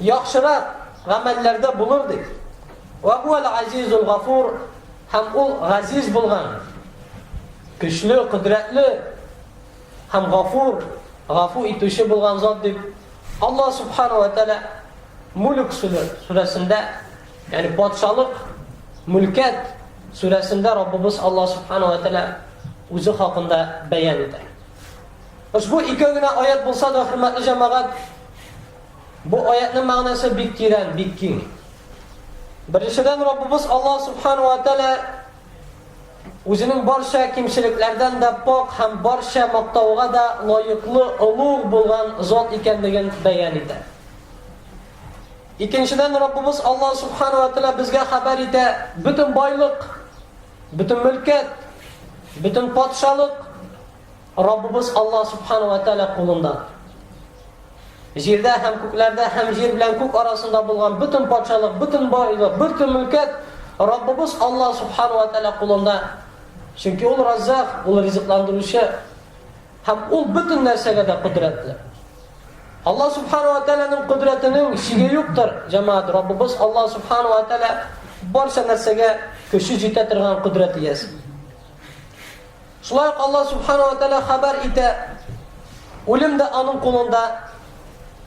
яхшырак гамәлләрдә булыр дип. Вә һуәл азизул гафур һәм ул газиз булган, көчле, кодрәтле һәм гафур, гафу итүче булган зат дип Алла субхана ва тәлә Мүлк сүрәсендә, ягъни патшалык, мүлкәт сүрәсендә Раббыбыз Алла субхана ва тәлә үзе хакында бәян итә. Ошбу ике генә аят булса да, хөрмәтле җәмәгать, Бу аятьнең мәгънәсе бик тирән, бик киң. Беренчедән, Раббыбыз Аллаһ Субхану ва Тәгалә үзенең барча кимчелекләрдән дә пак һәм барча мактауга да лаеклы олуг булган зат икәнлеген бәян итә. Икенчедән, Раббыбыз Аллаһ Субхану ва Тәгалә безгә хәбәр итә, бөтен байлык, бөтен мөлкәт, бөтен патшалык Раббыбыз Аллаһ Субхана вә Тәгалә кулында. Җирдә һәм күкләрдә һәм җир белән күк арасында булган бөтен патшалык, бөтен байлык, бөтен мөлкәт Раббыбыз Аллаһ Субхана вә Тәгалә кулында. Чөнки ул Раззак, ул ризыкландыручы һәм ул бөтен нәрсәгә дә кодрәтле. Аллаһ Субхана вә Тәгаләнең кодрәтенең чиге юктыр, җәмәгать. Раббыбыз Аллаһ Субхана вә Тәгалә барча нәрсәгә көче җитә торган кодрәт иясе. Шулай ук Аллаһ Субхана ва Тәгалә хәбәр итә, Үлем дә аның кулында,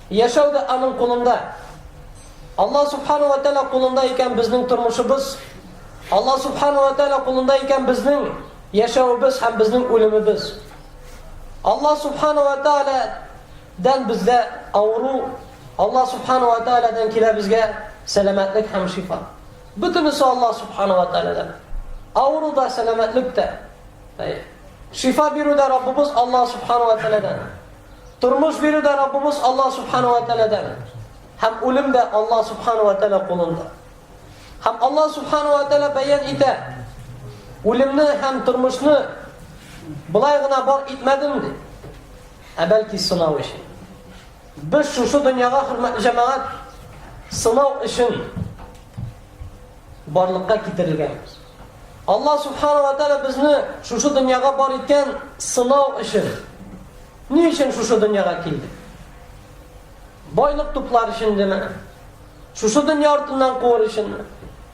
яшәү дә аның кулында. Аллаһ Субхана ва Тәгалә кулында икән безнең тормышыбыз, Аллаһ Субхана ва Тәгалә кулында икән безнең яшәвебез һәм безнең үлемебез. Аллаһ Субхана ва Тәгалә дән бездә авыру, Аллаһ Субхана ва Тәгаләдән килә безгә сәламәтлек һәм шифа. Бөтенесе Аллаһ Субхана ва Тәгаләдән. Авыру да, сәламәтлек тә. Шифа бирү дә Раббыбыз Аллаһ Субхана ва Тәгаләдән. Тормыш бирү дә Раббыбыз Аллаһ Субхана ва Тәгаләдән. Һәм үлем дә Аллаһ Субхана ва Тәгалә кулында. Һәм Аллаһ Субхана ва Тәгалә бәян итә. Үлемне һәм тормышны былай гына бар итмәдем ди. Ә бәлки сынау өчен. Без шушы дөньяга, хөрмәтле җәмәгать, сынау өчен барлыкка китерелгәнбез. Алла Субхану ва Тәлә безне шушы дөньяга бар иткән сынау өчен. Ни өчен шушы дөньяга килдек? Байлык туплар өчен деме? Шушы дөнья артыннан куыр өченме?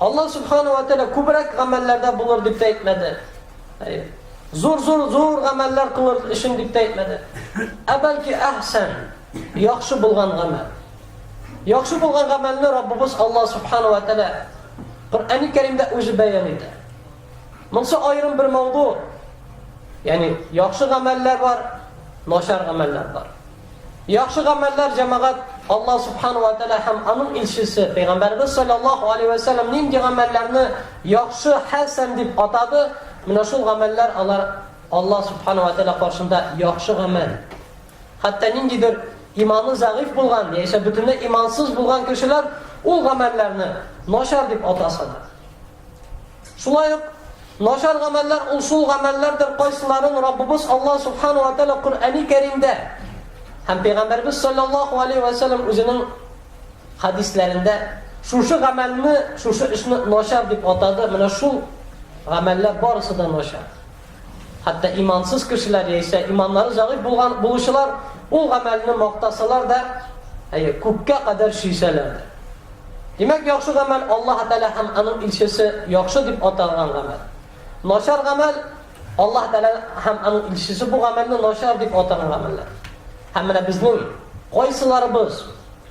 Аллаһ Субхану ва Тәгалә күбрәк гамәлләрдә булыр дип тә әйтмәде. Зур зур зур гамәлләр кылыр өчен дип тә әйтмәде. Ә бәлки әхсән, яхшы булган гамәл. Яхшы булган гамәлне Раббыбыз Аллаһ Субхану ва Тәгалә Коръәни Кәримдә үзе бәян итә. Монсы аерым бер мавду. Ягъни яхшы гамәлләр бар, начар гамәлләр бар. Яхшы гамәлләр, җәмәгать, Аллаһ Субхана ва Тәгалә һәм аның илчесе Пәйгамбәребез саллаллаһу алейһи вә сәлләм нинди гамәлләрне яхшы, хәсән дип атады, менә шул гамәлләр алар Аллаһ Субхана ва Тәгалә каршында яхшы гамәл. Хәтта ниндидер иманы зәгыйфь булган, яисә бөтенләй имансыз булган кешеләр ул гамәлләрне начар дип атаса да. Шулай ук, начар гамәлләр ул шул гамәлләрдер, кайсыларын Раббыбыз Аллаһ Субхана ва Тәгалә Коръәни Кәримдә һәм Пәйгамбәрбез саллаллаһу алейһи ва сәлләм үзенең хадисләрендә шушы гамәлне, шушы эшне начар дип атады, менә шул гамәлләр барысы да начар. Хәтта имансыз кешеләр яисә иманнары зәгыйфь булган булучылар ул гамәлне мактасалар да, әйе, күккә кадәр сөйсәләр дә. Димәк, яхшы гамәл Аллаһ Тәгалә һәм аның илчесе яхшы дип аталган гамәл. Начар гамәл Аллаһ Тәгалә һәм аның илчесе бу гамәлне начар дип атаган гамәлләр. Һәм менә безнең кайсыларыбыз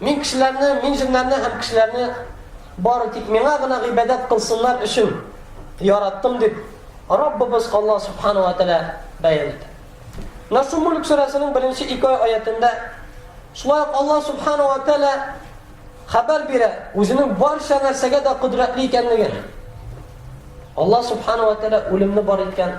Мин кешеләрне, мин җеннәрне һәм кешеләрне бары тик миңа гына гыйбадәт кылсыннар өчен яраттым дип Раббыбыз Алла Субхану ва Тәлә бәян итә. Наср Мулк сүрәсенең беренче ике аятында шулай ук Алла Субхану ва Тәлә хәбәр бирә, үзенең барча нәрсәгә дә кодрәтле икәнлеген. Алла Субхану ва Тәлә үлемне бар иткән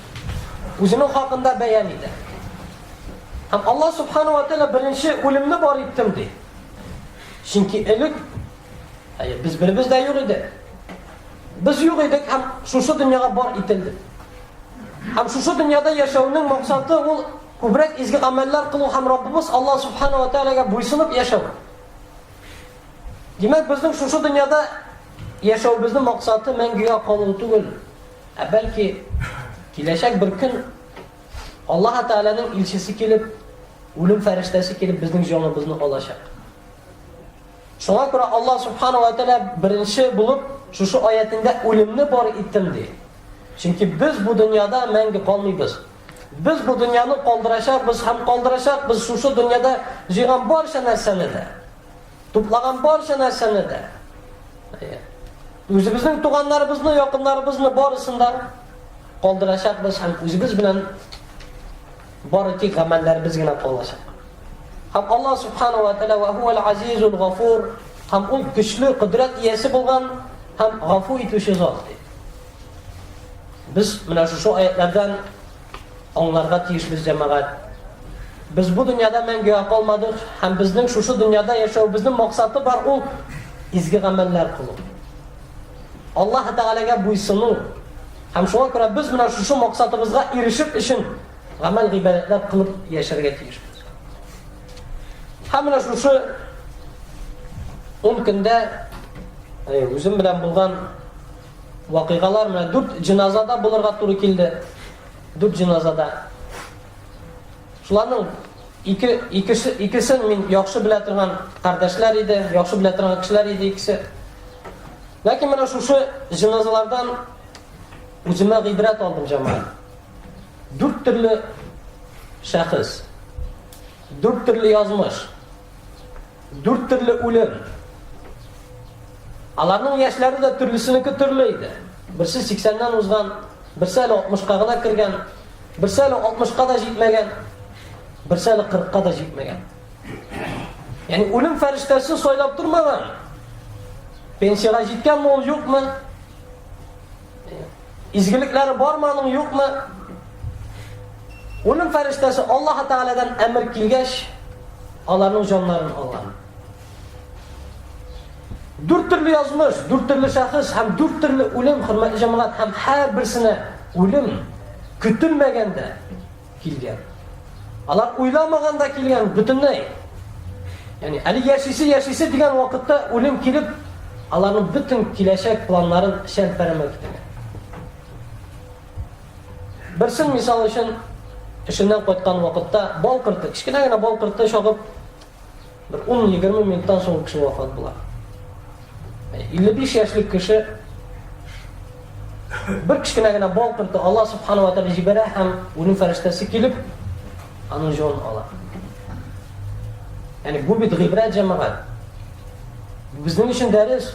Үзенең хакында бәян итә. Һәм Аллаһ Субхану ва Тәала беренче үлемне бар иттем ди. Чөнки элек әйе, без беребез дә юк иде. Без юк идек һәм шушы дөньяга бар ителдек. Һәм шушы дөньяда яшәүнең максаты ул күбрәк изге гамәлләр кылу һәм Раббыбыз Аллаһ Субхану ва Тәаләгә буйсынып яшәү. Димәк, безнең шушы дөньяда яшәүебезнең максаты мәңгегә калу түгел. Ә бәлки, киләчәк бер көн Аллаһ Тәгаләнең илчесе килеп, үлем фәрештәсе килеп безнең җаныбызны алачак. Шуңа күрә Аллаһ Субхану ва Тәгалә беренче булып шушы аятендә үлемне бар иттем ди. Чөнки без бу дөньяда мәңге калмыйбыз. Без бу дөньяны калдырачакбыз һәм калдырачакбыз шушы дөньяда җыйган барча нәрсәне дә. Туплаган барча нәрсәне дә. Үзебезнең туганнарыбызны, якыннарыбызны барысын да калдырачакбыз һәм үзебез белән бары тик гамәлләребез генә калачак. Һәм Аллаһ субхану ва тааля ва хуал азизул гафур һәм ул көчле кодрәт иясе булган һәм гафу итүче зат. Без менә шушы аятлардан Аңларга тиеш без, җәмәгать, без бу дөньяда мәңгегә калмадык һәм безнең шушы дөньяда яшәвебезнең максаты бар, ул изге гамәлләр кылу. Аллаһы Тәгаләгә буйсыну. Һәм шуңа күрә без менә шушы максатыбызга ирешеп өчен гамәл гыйбадәтләр кылып яшәргә тиешбез. Һәм менә шушы ун көндә үзем белән булган Вакыйгалар менә дүрт җеназада булырга туры килде. Дүрт җеназада. Шуларның ике икесе икесен мин яхшы белә торган кардәшләр иде, яхшы белә торган кешеләр иде икесе. Ләкин менә шушы җеназалардан үземә гыйбрәт алдым җаман. Дүрт төрле шәхес. Дүрт төрле язмыш. Дүрт төрле үлем. Аларның яшьләре дә төрлесенеке төрле иде. Берсе 80-нән узган, берсе әле 60-ка гына кергән, берсе әле 60-ка да җитмәгән, берсе әле 40-ка да җитмәгән. Ягъни үлем фәрештәсе сайлап тормаган. Пенсиягә җиткәнме ул, юкмы? Изгелекләре бармы аның, юкмы? Уның фәрештәсе Аллаһ Тааладан әмер килгәч, аларның җаннарын алган. Дүрт төрле язмыш, дүрт төрле шәхес һәм дүрт төрле үлем, хөрмәтле җәмәгать, һәм һәрберсенә үлем көтелмәгәндә килгән. Алар уйламаганда килгән бөтенләй. Яни әле яшисе яшисе дигән вакытта үлем килеп, аларның бөтен киләчәк планнарын шәлпәрәмә китерә. Берсен мисал өчен эшеннән кайткан вакытта бал корты, кечкенә генә бал корты чагып Бер ун-егерме минуттан соң кеше вафат була. 55 яшьлек кеше бер кечкенә генә бал корты Алла субхану ва тәгалә җибәрә һәм үлем фәрештәсе килеп аның җонын ала. Яни бу бит гыйбрәт җәмәгать. Безнең өчен дәрес.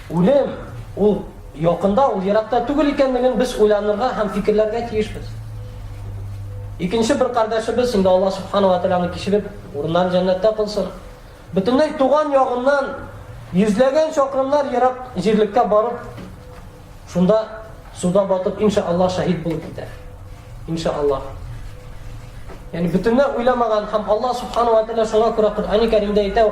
Үлем ул Якында ул еракта түгел икәнлеген без уйланырга һәм фикерләргә тиешбез. Икенче бер кардәшебез, инде Аллаһ Субхана ва Тәгалә аны кичереп, урыннарын җәннәттә кылсын, бөтенләй туган ягыннан йөзләгән чакрымнар ерак җирлеккә барып, шунда суда батып, инша Аллаһ шәһид булып китә. Инша Аллаһ. Яни бөтенләй уйламаган һәм Аллаһ Субхана ва Тәгалә шуңа күрә Коръәни Кәримдә әйтә,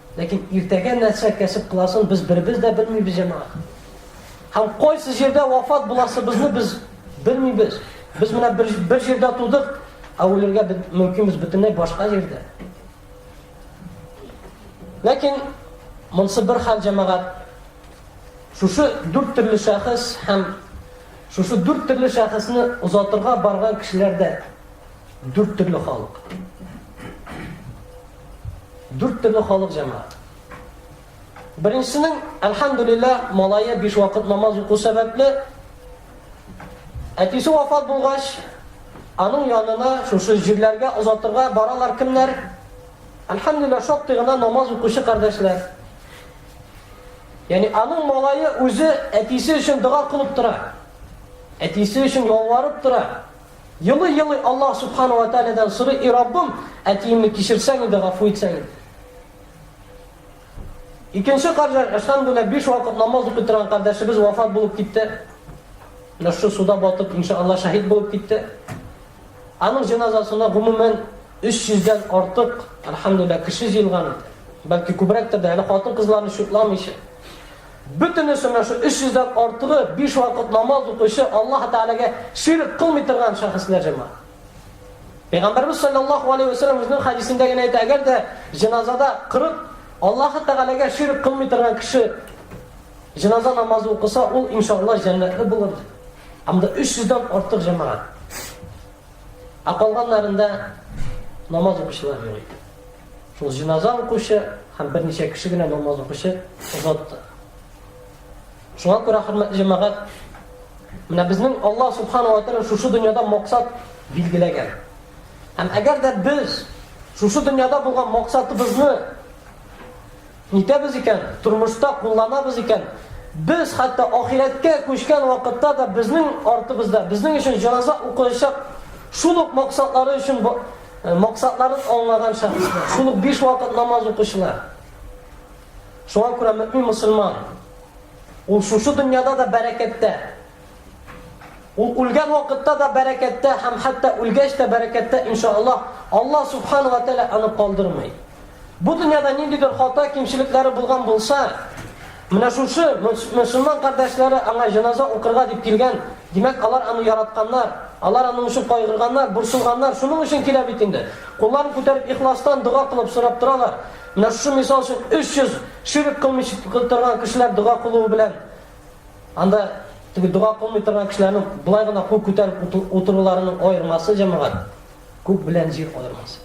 Ләкин иртәгә нәрсә кәсеп кыласын без беребез дә белмибез, җәмәгать. Һәм кайсы җирдә вафат буласыбызны без белмибез. Без менә бер, бер җирдә тудык, ә үлергә мөмкин без бөтенләй башка җирдә. Ләкин монсы бер хәл җәмәгать. Шушы дүрт төрле шәхес һәм шушы дүрт төрле шәхесне озатырга барган кешеләрдә дүрт төрле халык. Дүрт төрле халык җәмәгать. Беренчесенең, әлхәмдүлиллә, малае биш вакыт намаз уку сәбәпле, әтисе вафат булгач, аның янына шушы җирләргә озатырга баралар кемнәр? Әлхәмдүлиллә, шактый гына намаз укучы кардәшләр. Яни аның малае үзе әтисе өчен дога кылып тора. Әтисе өчен ялварып тора. Елый-елый Аллаһ Сүбхана уә Тәгаләдән сорый, И Раббым, әтиемне кичерсәң иде, гафу итсәң иде. Икенче каржа, әлхәмдүлләһ, биш вакыт намаз укый торган кардәшебез вафат булып китте. Менә шушы суда батып, иншалла, шәһид булып китте. Аның җеназасына гомумән 300 дән артык, әлхәмдүлләһ, кеше җыелган иде. Бәлки күбрәктер дә, әле хатын-кызларны шутламыйча. Бөтенесенә шу 300 дән артыгы биш вакыт намаз укучы Аллаһ Тәгаләгә ширк кылмый торган шәхесләр җыма. Пәйгамбәрбез саллаллаһу алейһи ва сәлләм үзенең хәдисендә генә әйтә, әгәр дә җеназада 40 Аллаһ Тәгаләгә ширк кылмый торган кеше җеназа намазы укыса, ул иншаллаһ җәннәтле булыр. Анда 300 дән артык җәмәгать. Ә калганнарында намаз укучылар юк иде. Шул җиназа укучы һәм берничә кеше генә намаз укучы озатты. Шуңа күрә хөрмәтле җәмәгать, менә безнең Алла субхану ва тааля шушы дөньяда максат билгеләгән. Һәм әгәр дә без шушы дөньяда булган максатыбызны Итәбез икән, тормышта кулланабыз икән, без хәтта ахирәткә күчкән вакытта да безнең артыбызда, безнең өчен җаназа укылачак шул ук максатлары өчен максатларын аңлаган шәхесләр, шул ук биш вакыт намаз укучылар. Шуңа күрә мөмин мусульман ул шушы дөньяда да бәрәкәттә, Ул үлгән вакытта да бәрәкәттә һәм хәтта үлгәч тә бәрәкәттә, иншаллаһ, Аллаһ субхана ва тәгалә аны калдырмый. Бу дөньяда ниндидер хата, кимчелекләре булган булса, менә шушы мөселман кардәшләре аңа җеназа укырга дип килгән, димәк, алар аны яратканнар, алар аның өчен кайгырганнар, борчылганнар, шуның өчен килә бит инде. Кулларын күтәреп ихластан дога кылып сорап торалар. Менә шушы мисал өчен 300 ширк кылмыйчы торган кешеләр дога кылуы белән Анда теге дога кылмый торган кешеләрнең болай гына кул күтәреп утыруларының аермасы җәмәгать күк белән җир аермасы.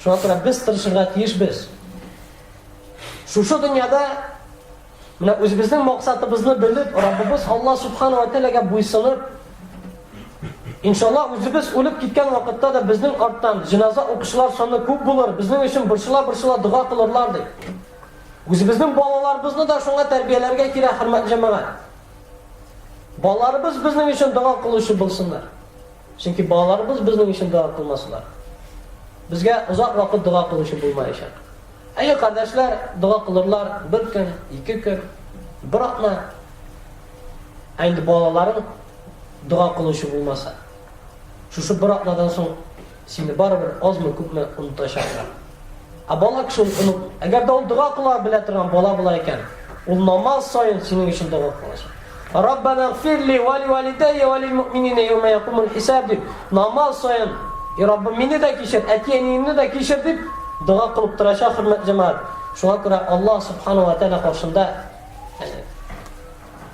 Шуңа күрә без тырышырга тиешбез. Шушы дөньяда менә үзебезнең максатыбызны белеп, Раббыбыз Алла субханала тәгаләгә буйсынып, Иншаллах үзебез үлеп киткән вакытта да безнең арттан җиназа укучылар саны күп булыр, безнең өчен борчыла-борчыла дога кылырлар ди. Үзебезнең балаларыбызны да шуңа тәрбияләргә кирәк, хөрмәтле җәмәгать. Балаларыбыз безнең өчен дога кылучы булсыннар. Чөнки балаларыбыз безнең өчен дога кылмасалар, безгә озак вакыт дога кылучы булмаячак. Әйе, кардәшләр, дога кылырлар бер көн, ике көн, бер атна. Ә инде балаларың дога кылучы булмаса, шушы бер атнадан соң Сине барыбер азмы-күпме онытачаклар. Ә бала кеше ул оныт. Әгәр дә ул дога кыла белә торган бала була икән, ул намаз саен синең өчен дога кылачак. Раббана гфирли ва лиуалидайя ва лилмуъминина яума якумул хисаб дип, намаз саен, И Раббым, мине дә кичер, әти-әниемне дә кичер дип дога кылып торачак, хөрмәтле җәмәгать. Шуңа күрә Аллаһ Субхана ва Тәгалә каршында, әни,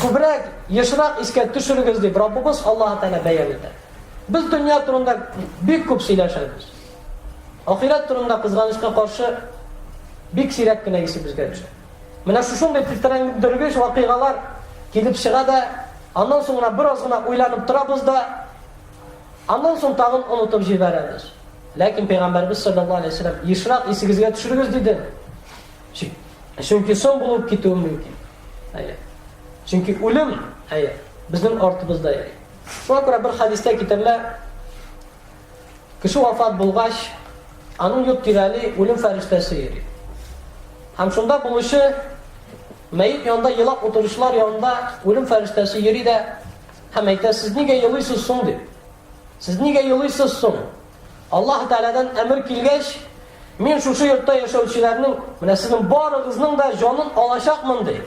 Күбрәк, ешрак искә төшерегез дип Раббыбыз Аллаһ Тәгалә бәян итә. Без дөнья турында бик күп сөйләшәбез. Ахирәт турында кызганычка каршы бик сирәк кенә исебезгә төшә. Менә шушындый тетрәндергеч вакыйгалар килеп чыга да, аннан соң гына бераз гына уйланып торабыз да, аннан соң тагын онытып җибәрәбез. Ләкин пәйгамбәрбез саллаллаһу алейһи ва саллям ешрак исегезгә төшерегез диде. Чөнки соң булып китүем мөмкин. Әйе. Чөнки үлем, әйе, безнең артыбызда йөри. Шуңа күрә бер хадистә китерелә, кеше вафат булгач, аның йорт тирәли үлем фәрештәсе йөри. Һәм шунда булучы мәйет янында елап утыручылар янында үлем фәрештәсе йөри дә һәм әйтә, сез нигә елыйсыз соң дип. Сез нигә елыйсыз соң? Аллаһы Тәгаләдән әмер килгәч, мин шушы йортта яшәүчеләрнең, менә сезнең барыгызның да җанын алачакмын ди.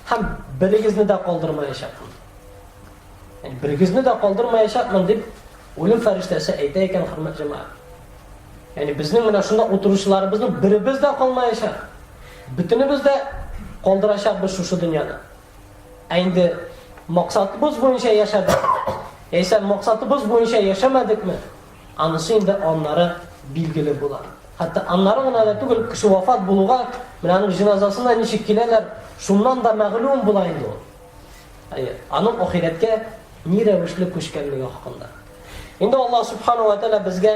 Һәм берегезне дә калдырмаячакмын. Һәм берегезне дә калдырмаячакмын дип үлем фәрештәсе әйтә икән, хөрмәт җәмәгать. Ягъни безнең менә шунда утыручыларыбызның беребез дә калмаячак. Бөтенебез дә калдырачакбыз шушы дөньяны. Ә инде максатыбыз буенча яшәдек, яисә максатыбыз буенча яшәмәдекме, анысы инде аннары билгеле була. Хәтта аннары гына да түгел, кеше вафат булуга, менә аның җеназасына ничек киләләр, шуннан да мәгълүм була инде ул. Әйе, аның ахирәткә ни рәвешле күчкәнлеге хакында. Инде Аллаһ субхану ва тааля безгә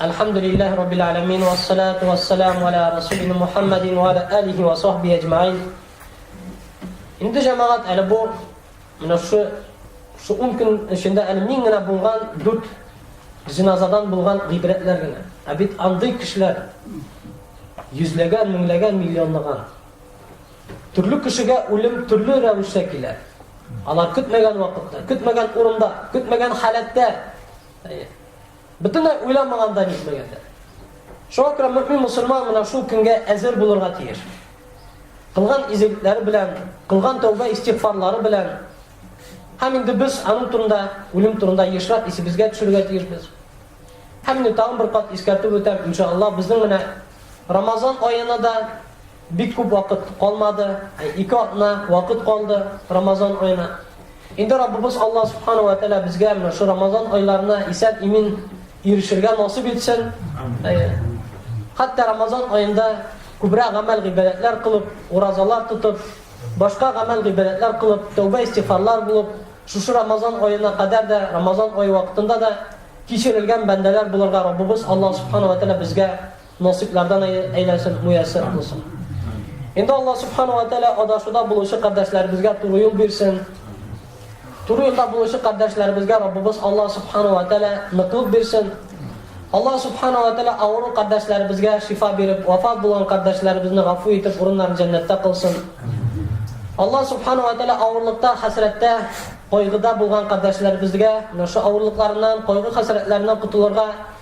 Әлхәмдүлилләһи раббил аләмин ва салату ва салам аля расулина Мухаммадин ва аля алихи ва сахби аҗмаин. Инде җәмәгать әле бу менә шу шу 10 көн эчендә әле мин генә булган 4 җиназадан булган гыйбрәтләр генә. Ә бит андый кешеләр йөзләгән, меңләгән, миллионлаган. Төрле кешегә үлем төрле рәвештә килә. Алар көтмәгән вакытта, көтмәгән урында, көтмәгән халәттә Бөтенләй уйламаганда җитмәгәндә. Шуңа күрә мөһим мусульман менә шул көнгә әзер булырга тиеш. Кылган изгелекләре белән, кылган тәүбә истигъфарлары белән һәм инде без аның турында, үлем турында ешрак исебезгә төшерергә тиешбез. Һәм инде тагын бер кат искәртеп үтәм, иншалла, безнең менә Рамазан аена да Бик күп вакыт калмады, ике атна вакыт калды Рамазан аена. Инде Раббыбыз Аллаһ Субхану ва Тәгалә безгә менә шу Рамазан айларына исән имин ирешергә насыйп итсен. Хәтта Рамазан аенда күбрәк гамәл гыйбадәтләр кылып, уразалар тотып, башка гамәл гыйбадәтләр кылып, тәүбә истифарлар булып, шушы Рамазан аена кадәр дә, Рамазан ае вакытында да кичерелгән бәндәләр булырга Раббыбыз Аллаһ Субхану ва Тәгалә безгә Насыйплардан әйләсен, муяссәр кылсын. Инде Алла Субхану ва Тәлә адашуда булучы кардәшләребезгә туры юл бирсен. Туры юлда булучы кардәшләребезгә Раббыбыз Алла Субхану ва Тәлә ныклык бирсен. Алла Субхану ва Тәлә авыру кардәшләребезгә шифа биреп, вафат булган кардәшләребезне гафу итеп, урыннарын җәннәттә кылсын. Алла Субхану ва Тәлә авырлыкта, хәсрәттә, кайгыда булган кардәшләребезгә, наша авырлыкларыннан, кайгы хәсрәтләреннән котылырга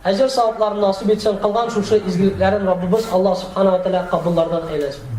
Әҗер савапларын насыйп итсен, кылган шушы изгелекләрен Раббыбыз Аллаһ Субхана ва Тәгалә кабуллардан әйләсен.